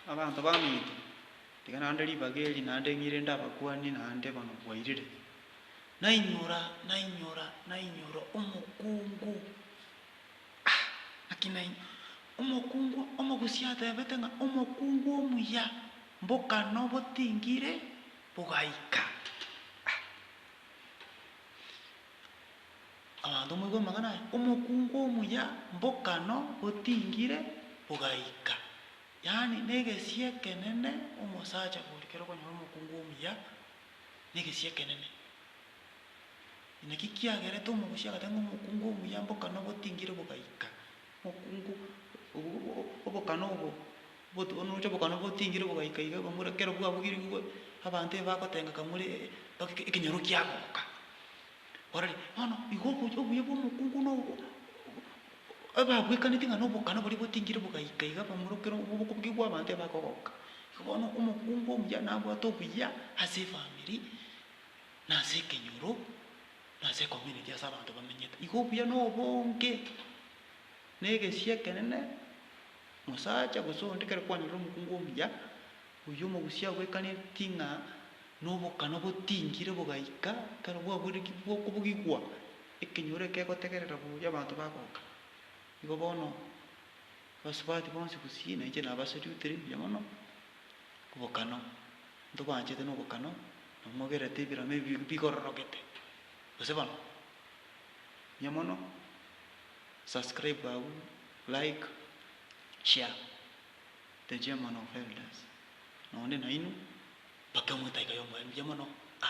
Abanto baminto, tiga naende ribaga eri, naende ng'ire inde abakuani, naende bono bwairire, nainyora, nainyora, nainyora omokungu, ah, naki nai, omokungu, omogusia atebete ng'a omokungu omuya, mbokana obotingiri bogaika, ah. Abanto moigwe amang'ana aya, omokungu omuya mbokano otingire ogaika. Yaani negesie ekenene omosacha oria kero okonyora omokungu omuya negesie ekenene. Naki kiagerete omogusia agate ng'a omokungu omuya mbokano botingire bogaika. Omokungu obokana obo oroche obokana botingire bogaika iga bamura kero bwabugire igwe abanto ebagotengeka more ekenyoro kiagoka. Barore, bono igo oboch, obuya bw'omokungu na obo- ababwekaneti ng'a na obokana boria botingire bogaika iga bamorokere obo bokobugigwa abanto ebagogoka. Igo bono omokungu omuya nabwate obuya ase efamiri, na ase ekenyoro, na ase ecommunity ase abanto bamenyete. Igo obuya na obonge, na egesu ekenene, mosacha gose onde ekero kwanyorire omokungu omuya, oyio omogusia abwekaneti ng'a Na obokana obotingire bogaika ekero bwaburekigwe bw'okobugigwa, ekenyoro ekegotegerera boria abanto bagoka. Igo bono abasubati bonsi gusii na inche nabasoriutire mbuya mono obokano. Ntobaanchete nobokano, na mogerete ebiromo ebi bigororogete. Gose bono. Mbuya mono. Subscribe abwo, like, share. The chairman of elders, na onde naino, mpaka emwetaika y'omoerio mbuya mono, a.